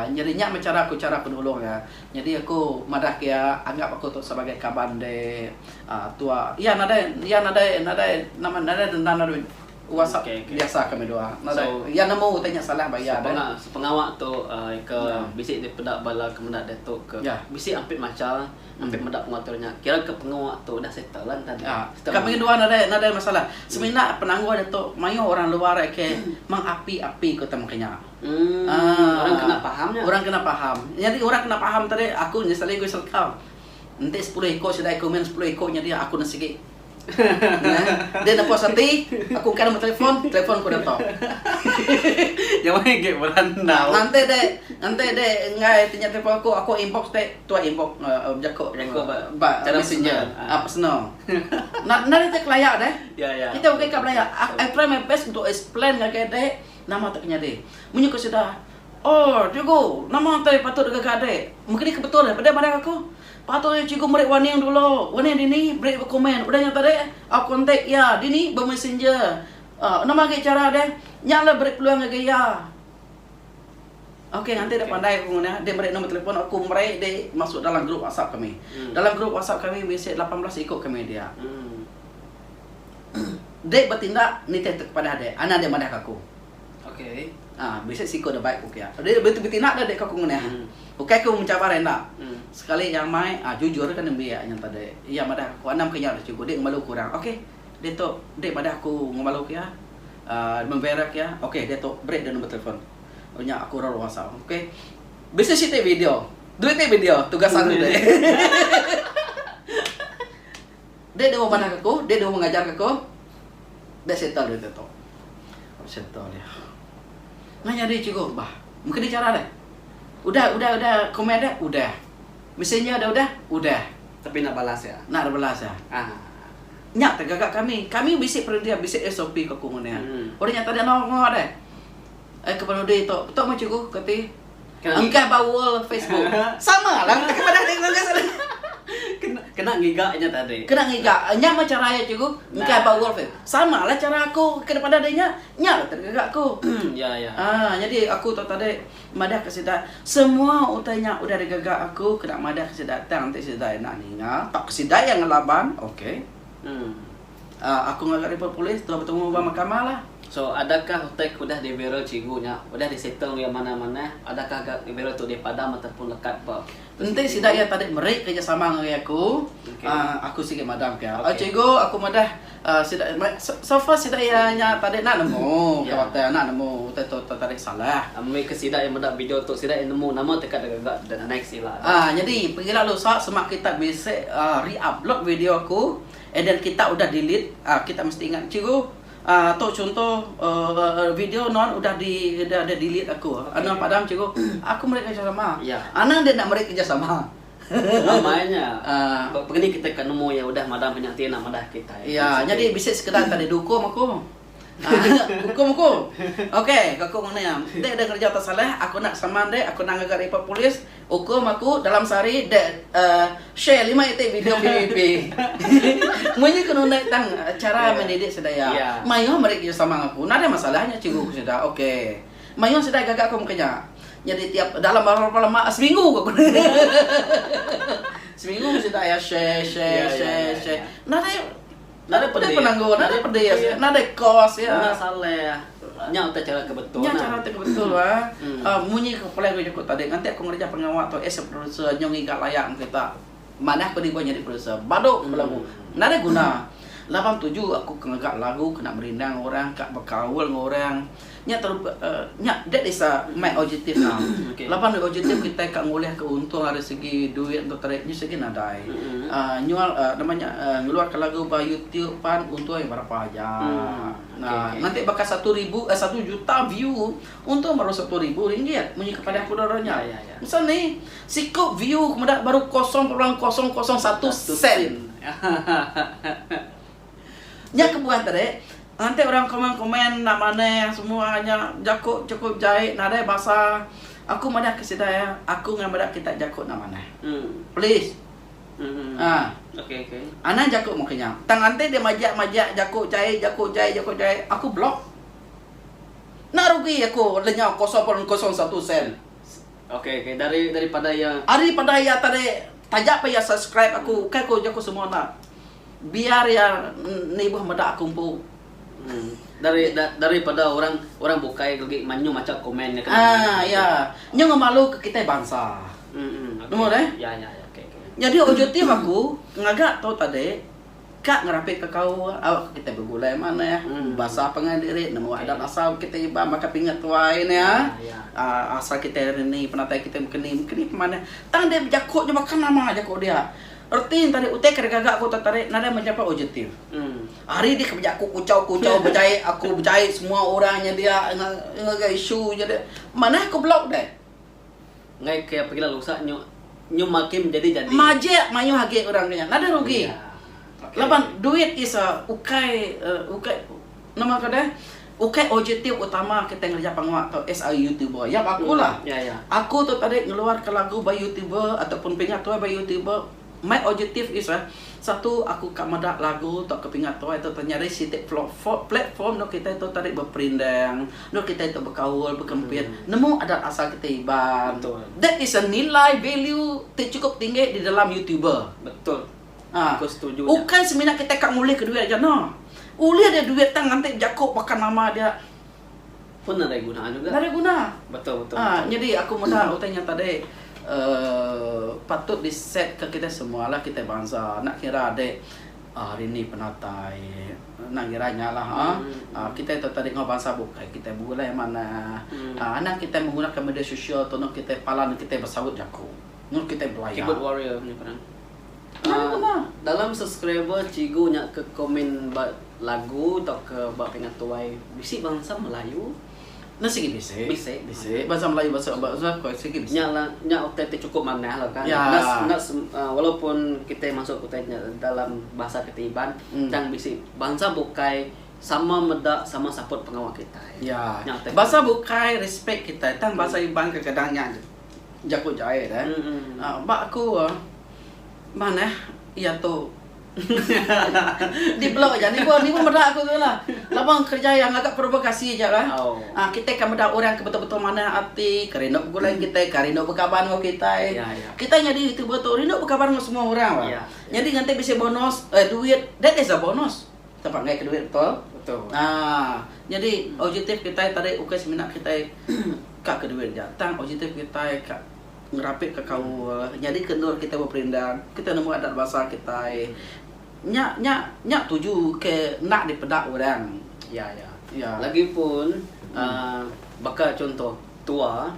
Nyadi nya meh chara aku chara penulung iya. Nyadi aku madahka iya anggap aku tu sebagai kaban ende tua. Iya nadai iya nadai nadai nama nadai dendam nadai whatsapp biasa kami dua. Nadai iya nemu utai nya salah ba iya deh. Sepengawa tu ke bisi dipeda bala ke meda ditu ke bisi ampit macha ampit meda pengatur nya. Kira ke pengawa tu dah settle lah enda agi. Kami dua nadai nadai masalah. Semina penanggul ditu mayuh orang luar aka meng api api ku tau meka nya. Umm orang kena paham nya. Orang kena paham. Nyadi orang kena paham tadi aku nya sekali kuis reka. Enti sepuluh iko sida ikumen sepuluh iko nyadi aku ne sigi. Nah, dia dapat sati, aku kan nombor telefon, telefon aku dato. Yang mana gek berandau. Nanti dek, nanti dek ngai tanya telefon aku, aku inbox dek, tu inbox uh, eh, jako jako eh, ba, ba cara messenger, ah personal. Nah, nah dia kelaya dek. Ya ya. Kita okey ka belaya. I try my best untuk explain ngagai dek. Nama tu penyadi? Munyi ku sida, Orr, Cikgu, nama ti patut ngaga adik? Mengkedi ke betul peda madah aku? Patut aja cikgu meri warning dulu. Warning dini? Beri ba komen udah nya tadi. Au kontak iya dini ba messenger. Aw, nama agi chara deh? Nya alai beri peluang ngagai iya. Okey, nganti deh pandai aku ngundah deh meri nombor telefon aku meri deh masuk dalam grup WhatsApp kami. Dalam grup WhatsApp kami bisi lapan belas iku kami dia. Dek betindak nitih te kepadah dek, anak dek madah ke aku. Okay. Ah, bisi siko da baik ku kia. Dek beti betindak da dek ke aku ngundah. Hmm. Ukai ku mencabar enda. Hmm. Sekali iya amai, ah jujur ke nembi iya nyata dek. Iya madah ke aku, anam ke nya udah cukup, dek ngemalu aku orang. Okay. Dek tu, dek madah aku ngemalu kia. Ah, membera kia. Okay, dek tu beri dek nombor telefon. Oh nya aku orang luar asal. Okay. Bisi si te video. Duit te video, tugas anu dek. Dek dewa manah ke ko, dek dewa ngajar ke ko, dek settle deh tu. Settle dia. Ngai nyadi cikgu ke bah. Mengkena cara deh. Udah, udah, udah comment deh? Udah. Messenger deh udah? Udah. Tapi enda balas ya. Enda ada balas ya. Haa. Nya tega ga kami. Kami bisi perending, bisi SOP ke ko ngundah. Orang nya tadi enda ngau deh. Eh keperudi tu. Tu meh cikgu kati. Kena Engkah ngiga. baul Facebook. Sama lah engkah padah deh ngau engkah sama. Kena kena ngiga nya tadi. Kena ngiga. Nya mah chara iya cikgu. Engkah Nah. baul Face. Sama lah chara aku kena padah deh nya. Nya lah tadi ngaga aku. Ya ya. Ah, nyadi aku tu tadi madah ke sida, semua utai nya udah digaga aku kena madah ke sida tang enti sida enda ninga tauka sida iya ngelaban, okey. Hmm. Ahh aku ngaga report polis tuan betungu ba mahkamah lah. So adakah utai ke udah di viral cikgu nya udah di settle enggau iya manah manah adakah ga ke viral tu di padam ataupun lekat ba Enti sida iya tadi meri kerejasama ngagai aku ahh aku sigi madam ka iya. Cikgu aku madah ahh sida so far sida iya nya tadi enda nemu ke utai enda nemu utai tu tadi salah. Ami ke sida iya meda video tu sida iya nemu nama teka deka ga the next ila. Ahh nyadi pengila lusa sema kita bisi ahh re-upload video aku. Eh dan kita udah delete kita mesti ingat cikgu tu chunto video nuan udah di delete aku nuan padam cikgu aku meri kerjasama anang dia enda meri kerjasama amai nya begeni kita ka nemu iya udah madam nya enti enda madah kitai iya jadi bisi sekeda enda didukung aku. Aaa ukum aku. Okay ko aku ngan iya. Dek deh kerja tak salah aku enda kesaman dek aku enda ngaga report polis ukum aku dalam sehari dek aaa share lima iti video PVP. Munyi ke nunda tang cara mendidik sedaya. Maioh meri ke sama ngan aku. Enda deh masalah nya cikgu ku sida. Okay. Maioh sida gaga aku meka nya. Nyadi tiap dalam berapa lama seminggu ko aku. Seminggu sida iya share share share share. Enda deh. Nadai peda penanggul, nadai peda iya sida, nadai kos iya. Nadai salah. Nya utai chara ke betul. Nya chara ti ke betul ba. Munyi ke plan ku jaku tadi nganti aku ngerja pengawa tu as a producer nyau ngiga layak ngan kita. Manah aku dibuh nyadi producer. Badu belagu. Nadai guna. Laban tuju aku ke ngaga lagu kena merindang orang, ka bekaul enggau orang. Nya teruk ke nya that is a my objective now. Laban dulu objective kitai ka ngulihka untung ari segi duit enggau teripnye segi nadai. Uhh nyual uhh nama nya uhh ngeluarka lagu ba youtube pan untung iya berapa aja. Uhh nganti baka satu ribu uhh satu juta view untung baru satu ribu ringgit munyi kepada aku dulu nya. Masa ni siku view meda baru kosong perbulan kosong kosong satu sen. Nya kebuah tadi, enti orang komen komen enda manah semua nya jaku chukup jai nadai basa aku madahka sida iya aku ngah meda kitai jaku enda manah. Please. Uhh. Anang jaku mung kinya. Tang enti dia majak majak jaku jai jaku jai jaku jai aku block. Enda rugi aku lenyau kosong pun kosong satu sen. Ari pada iya tadi taja pun iya subscribe aku ukai ku jaku semua enda. Biar iya nibuh meda aku empu. Dari dari pada orang orang bukai legi manyuh macha komen nya kena meh. Ah iya. Nya ngemalu ke kitai bansa. Nemu deh. Ya ya ya. Okay okay. Nyadi ojektif aku ngaga tau tadi ka ngerapit ka kaul au ka kitai begulai manah basa pangan diri nemu adat asal kitai Iban baka pingat tuai nya. Ah asal kitai reni penatai kitai mengkeni mengkeni pemanah tang dia bejaku nya baka nama jaku dia. Reti ngentarik utai ke regaga aku tetarik nadai meh nyapa ojetif. Ari dih ke beja aku kuchau kuchau bejai aku bejai semua orang nyedia ngagai isu nyedia manah aku block deh. Enggai ke pegila lusa nyu nyu makin jadi jadi. Majek mayuh agi orang ke nya nadai rugi. Laban duit is a ukai ukai nama ngagai deh. Ukai ojektif utama kitai ngereja pengua tu as a youtuber. Yap aku la. Aku tu tadi ngeluar ka lagu ba youtuber atau pun pinga tuai ba youtuber. My ojektif is a satu aku ka meda lagu tu ka pinga tuai tu nyadi siti platform endur kitai tu tadi beperindang, endur kitai tu bekaul, bekempit nemu adat asal kitai Iban. That is a nilai value ti cukup tinggi di dalam youtuber. Aku setuju nya. Ukai semina kitai ka ngulihka duit aja no. Ulih dia duit tang nganti jaku baka nama dia. Pun nadai guna juga. Nadai guna. Betul betul. Ha nyadi aku meda utai nya tadi uhh patut di set ka kitai semua lah kitai bansa enda kira ade uhh rindi penatai enda ngira nya lah ha. Uhh kitai tu tadi enggau bansa bukai kitai bulai manah. Uhh anang kitai menggunakan media sosial tu kitai pala kitai besaut jaku. Mung kitai belayar. Keyboard warrior. Dalam subscriber cigu nya ke komen ba lagu tauka ba pinga tuai bisi bansa melayu? Nya sigi bisi. Bisi. Bisi bansa melayu bansa ba bansa ko sigi bisi. Nya la nya utai ti cukup manah la kan. Ya. Enda enda walaupun kitai masuk ke utai nya dalam bahasa kitai Iban mm. tang bisi bansa bukai sama meda sama support pengawa kitai. Ya. Nya utai. Bansa bukai respect kitai tang bansa Iban kadang-kadang nya. Jaku jait eh. Ba aku manah iya tu di blur ja nibu nibu meda aku tu lah. Laba kerja iya ngaga provokasi ja lah. Kitai kan meda orang ke betul-betul manah ati ke rindu begulai kitai ka rindu bekaban enggau kitai. Kitai nyadi youtuber tu rindu bekaban enggau semua orang bah. Nyadi ngatai bisi bonus eh duit that is a bonus. Kita panggil ke duit betul. Nyadi objektif kitai tadi ukai semina kitai ka ke duin nya tang objektif kitai ka ngerapitka kaul, nyadika endur kitai beperindang, kitai nemu adat bansa kitai. Nya nya nya tuju ke enda dipeda orang, iya iya. Lagipun baka chunto tua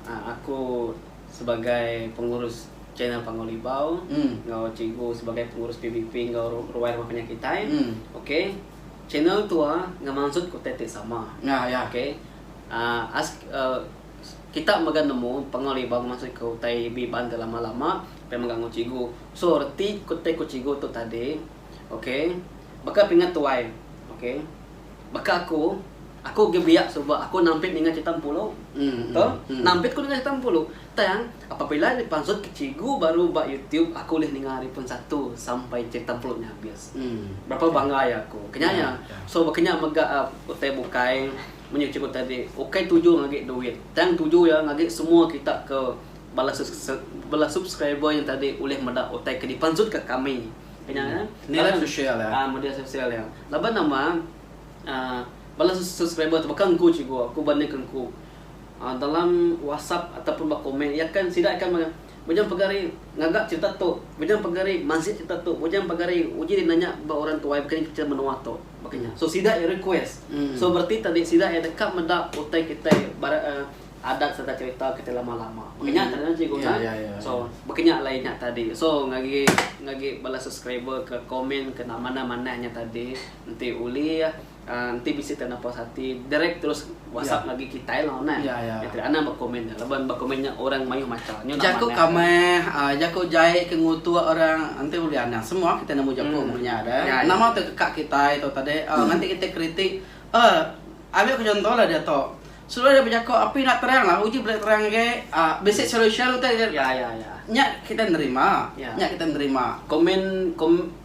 aku sebagai pengurus channel Panggau Libau enggau cikgu sebagai pengurus PBP enggau ruai rumah penyakitai, okey channel tua ngemansut utai ti sama. Okey Ask Kita mega nemu Pengaul Iban masa ke utai Iban ti lama lama pia mega enggau cikgu so reti ku ti ku cikgu tu tadi ok baka pinga tuai ok baka aku aku agi biak suba aku nampit ninga cerita empulu to nampit ku ninga cerita empulu tang apabila ari pansut ke cikgu baru ba youtube aku ulih ninga ari pun satu sampai cerita empulu nya habis. Berapa bangga aja aku. Kenyanya. So bakenya mega utai bukai menyuh cikgu tadi ukai tuju ngagi duit tang tuju ya ngagi semua kita ke bala bala subscriber nya tadi ulih meda utai ke dipansut ka kami kenya ya media sosial ya ah media sosial ya laban nama uhh bala subscriber tu baka engku cikgu aku banding ka engku uhh dalam whatsapp ataupun ba komen iya kan sida akan Bujang pegari ngaga cerita tu. Bujang pegari mansik cerita tu. Bujang pegari uji nanya ba orang tuai baka ni cerita menua tu. Baka nya. So sida iya request. So bereti tadi sida iya deka meda utai kitai barat uhh adat sereta cerita kitai lama-lama. Baka nya tadi nah cikgu nah. So baka nya alai nya tadi. So ngagi ngagi bala subscriber ke komen ke nama ne manah nya tadi enti ulih. Enti bisi tanda puas ati direct terus WhatsApp agi kitai lo neh. Enti anang ba komen nya laban ba komen nya orang mayuh macha nyu nak manah. Jaku kameh aaa jaku jai ke ngutuk orang enti ulih anang semua kitai nemu jaku mung nya deh. Nama tu teka kitai tu tadi aaa nganti kitai kritik aaa ambil ke contoh lah diatu selalu deh bejaku api enda terang lah uji bela terang agi aaa bisi solution utai nya kitai nerima nya kitai nerima. Komen kom.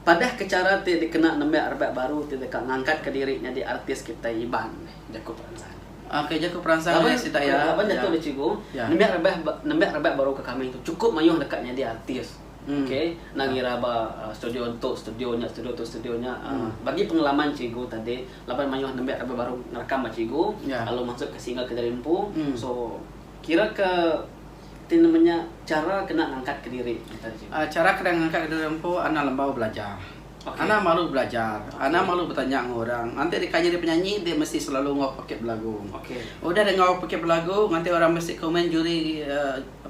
Padah ke chara ti dikena nembiak rebak baru ti deka ngangkatka diri nyadi artis kitai Iban, jaku peransang. Okey, jaku peransang ari sida iya. Laban jaku nya Cikgu, nembiak rebak nembiak rebak baru ke kami tu chukup mayuh deka nyadi artis. Okey, enda ngira ba studio entu, studio nya, studio tu, studio nya. Bagi pengalaman Cikgu tadi, laban mayuh nembiak rebak baru ngerekam ba Cikgu lalu masukka single ke jari empu. So, kiraka. Ti nama nya chara kena ngangkat ke diri ngagai diri sendiri? Chara kena ngangkat ke diri empu anang lembau belajar. Anang malu belajar, anang malu betanya enggau orang. Nganti deka nyadi penyanyi enti mesti selalu enggau pekit belagu. Udah deh enggau pekit belagu nganti orang mesti komen juri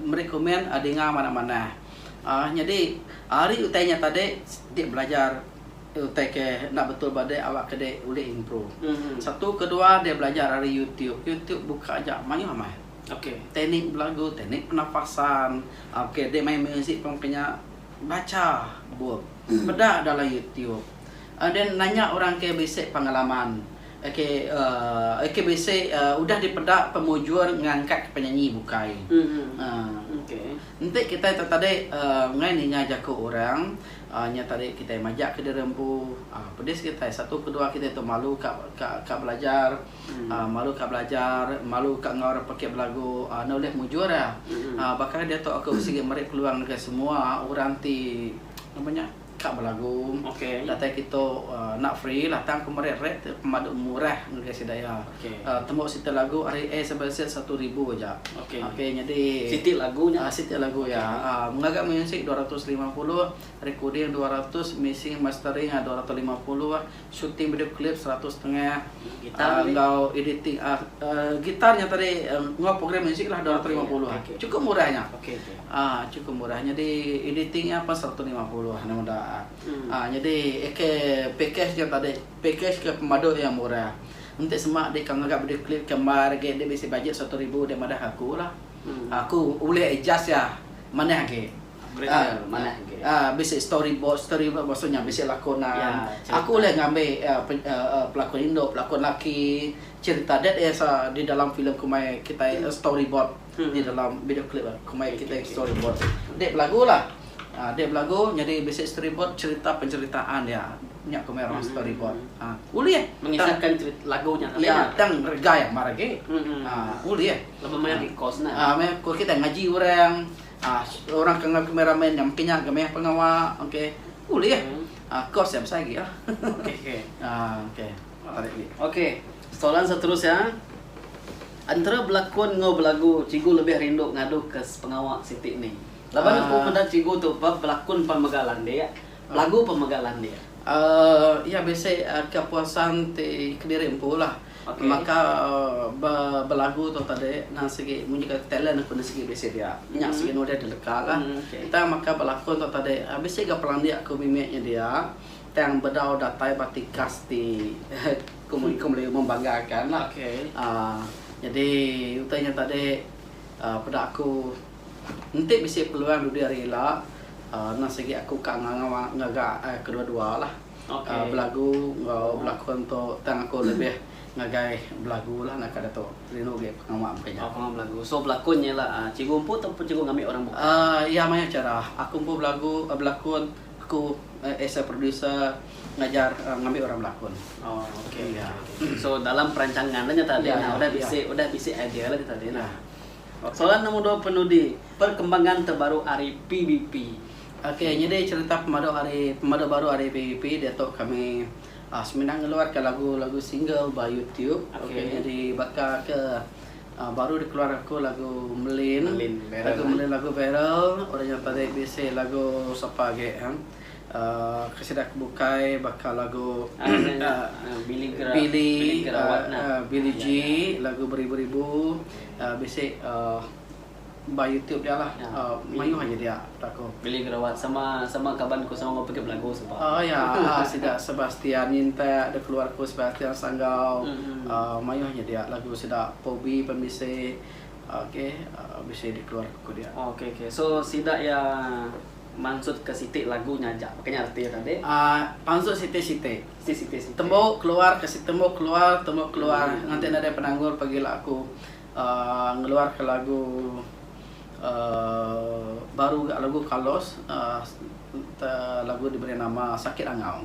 meri komen dinga manah-manah. uhh nyadi ari utai nya tadi siti belajar utai ke enda betul ba dek awakka dek ulih improve. Satu kedua dek belajar ari youtube. Youtube buka aja mayuh amai. Ok teknik belagu teknik penafasan ok dek main music pun ke nya baca book peda dalam youtube uh then nanya orang ke bisi pengalaman ok uh ok bisi uh udah dipeda pemujur ngangkat penyanyi bukai uh enti kitai tu tadi uh ngai ninga jaku orang uh nya tadi kitai majak ke diri empu uh pedis kitai satu kedua kitai tu malu ka ka belajar. Malu ka belajar, malu ka enggau orang pekit belagu, enda ulih mujur iya. Baka ni diatu aku sigi meri peluang ngagai semua orang ti nama nya ka belagu datai kitu enda free lah tang aku meri rate ti pemadu murah ngagai sida iya. Tembu siti lagu ari A sampai Z satu ribu aja. Okay nyadi siti lagu iya ngaga musik dua ratus lima puluh, recording dua ratus, mixing mastering dua ratus lima puluh, Shooting video klip seratus setengah enggau editing gitar nya tadi enggau program muzik lah dua ratus lima puluh. Chukup murah nya. Chukup murah nyadi editing nya pun seratus lima puluh anu meda. Nyadi aka package nya tadi package ke pemadu iya murah. Enti sema deka ngaga video klip ke embar agi enda bisi bajet seratus ribu dek madah aku lah. Aku ulih adjust iya manah agi. Grammar manah grammer. A bisi story board, story board maksud nya bisi lakonan. Ya, cerita. Aku ulih ngambi a a pelakon indu, pelakon laki, cerita that is a di dalam filem ku mai kitai hmm. story board hmm. di dalam video clip a ku mai kitai okay, story board. Okay. Dek belagulah. A dek belagu jadi bisi story board cerita penceritaan dia. Nya ku mai orang hmm. story board. A ulih mengisahkan cerita lagu nya. Ya, tang regai maragi. Hmm. A ulih. Lepas mai di kos nah. A mai kos kita ngaji orang. Aaa orang ke enggau kami ramai nya mungkin nya ga meh pengawa okey ulih aaa course nya besai agi lah aaa okey tarik agi. Okey soalan seterusnya entera belakon enggau belagu cikgu lebih rindu ngadu ke sepengawa siti ni laban aku meda cikgu tu ba belakon pan mega landik belagu pan mega landik. Aaa iya bisi ke apesan ti kediri empu lah. Baka ba belagu tu tadi nan sigi munyi ka talent aku nya sigi bisi dia. Nya sigi nulis da deka la. Tang baka belakon tu tadi bisi ga pelandik aku mimit nya dia tang bedau datai ba tikas ti ku meri ku melayu membanggakan la. uhh Jadi utai nya tadi uhh peda aku enti bisi peluang dudi ari ila uhh nan sigi aku ka nganga ngaga kedua dua la. Belagu enggau belakon tu tang aku lebih ngagai belagu lah naka ditu. Rindu agi pengawa mega nya. Pengawa belagu. So belakon nya ila cikgu empu ataupun cikgu ngambi orang bukai? Iya mayuh chara. Aku empu belagu belakon aku as a producer ngajar ngambi orang belakon. Oh okey okey okey. So dalam perancangan lah nya tadi udah bisi udah bisi idea lah nya tadi. Soalan nombor dua penudi perkembangan terbaru ari PBP. Ok nyadi cerita pemadu ari pemadu baru ari PBP diatu kami aaa semina ngeluarka lagu lagu single ba YouTube. Ok nyadi baka ke aaa baru dikeluar aku lagu Merlin. Lagu Merlin lagu viral orang inya tadi bisi lagu sapa agi ha. Ke sida ke bukai baka lagu Billy G lagu beribu-ribu bisi ba YouTube dia lah mayuh aja dia belagu. Billy Gerawat sama sama kaban ku sama enggau Pegip Lagu suba. Oh ya sida Sebastian Nyintak da keluar ku Sebastian Sanggau uhh mayuh aja dia lagu sida Pobi pun bisi okay bisi dikeluar ku dia. Okay okay so sida iya. mansutka siti lagu nya aja. Baka nya arti iya tadi. Aaa pansut siti-siti. Siti siti-siti. Tembu keluar ke si tembu keluar tembu keluar hmm. nganti nadai penanggul pagila aku uh, ngeluarka lagu uh, baru ga lagu Carlos uh, lagu diberi nama Sakit Angau.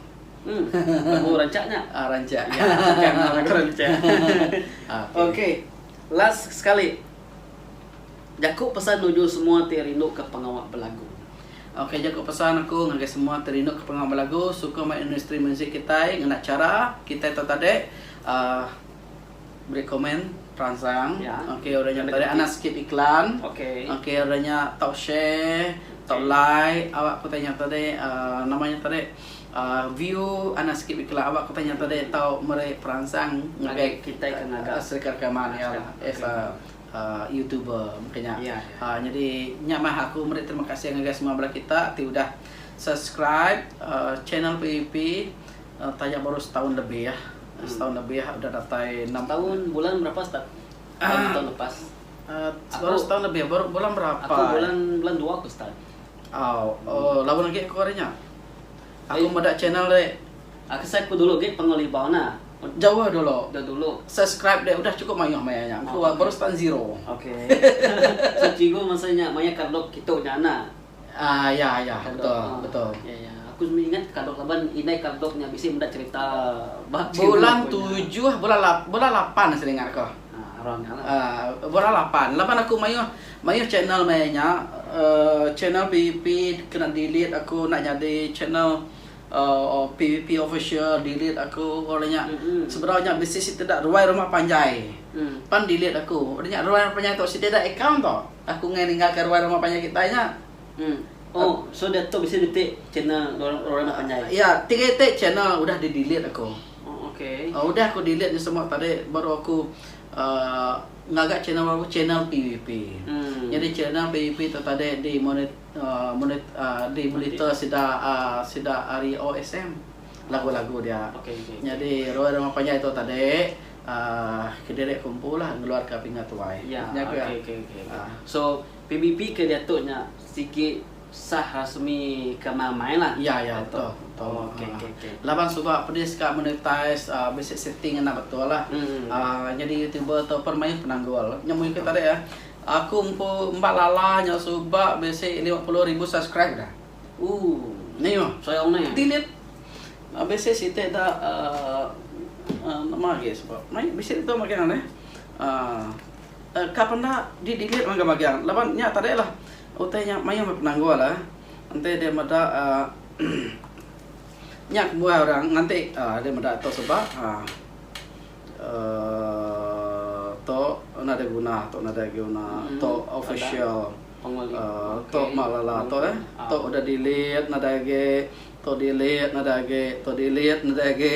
Hmm. Lagu rancak nya. Ah rancak. Ya, kan lagu rancak. Ah, okay. okay. Last sekali. Jaku pesan nuju semua ti rinduka pengawa belagu. Ok jaku pesan aku ngagai semua ti rinduka pengawa belagu sukung meh industri muzik kitai ngena chara kitai tu tadi uhh beri komen teransang ok udah nya tadi anak skip iklan ok udah nya tau share tau like awak ku tanya tadi uhh nama nya tadi. View anak sikit bikela awak kitai nyata deh tau meri peransang ngagai kitai ke ngaga serika rekaman iya lah as a youtuber mungkin nya nyadi nya mah aku meri terima kasih ngagai semua bala kita ti udah subscribe channel PVP taja baru setaun lebih setaun lebih udah datai enam setaun bulan berapa start setaun lepas baru setaun lebih bulan berapa aku bulan bulan dua aku start. Au, oh, laban agi aku ari nya. Aku meda channel dek. Ah kesai ku dulu gek pengol ibau nah. Jauh dulu. Jauh dulu. Subscribe dek udah cukup mayuh maya nya. Ku oh, baru start zero. Okey. so cikgu masa nya maya kadok kitu nya nah. Ah ya ya betul ah. betul. Ya ya. Aku semua ingat kadok laban indai kadok nya bisi meda cerita bah bulan tujuh bulan lap, bulan lapan sering aku. Ah, around nya lah. Ah, bulan lapan. Laban aku mayuh Mayuh channel maya nya uhh channel pvp kena delete aku enda nyadi channel uhh pvp official delete aku orang nya sebedau nya bisi siti da ruai rumah panjai pan delete aku orang nya ruai rumah panjai tu siti da account tu aku meh ninggal ka ruai rumah panjai kitai nya uhh so da tu bisi niti channel ruai rumah panjai iya tiga iti channel udah di delete aku uhh udah aku delete nya semua tadi baru aku uhh. Ngaga channel baru channel pvp. Nyadi channel pvp tu tadi di di monitor sida sida ari OSM lagu lagu dia. Nyadi Roy Rumah Panjai tu tadi kediri ku empu lah ngeluar ka pinga tuai. Nya ga. So pvp ke diatu nya sigi. Sah rasmi kena main lah. Ya ya betul betul ha laban suba pedis ka monetize bisi setting enda betul lah nyadi youtuber tu pun mayuh penanggul nya mung iko tadi aku empu emba lala nyau suba bisi lima puluh ribu subscribe dah mayuh delete bisi siti da nama agi suba mayuh bisi ditu magang ne ka penda di delete magang magang laban nya tadi lah. Utai nya mayuh meh penanggul eh. Enti deh meda uhh nya kebuah orang nganti uhh deh meda tu sebab uhh uhh tu nadai guna tu nadai guna tu official uhh tu meh lala tu eh. Tu udah delete nadai agi tu delete nadai agi tu delete nadai agi.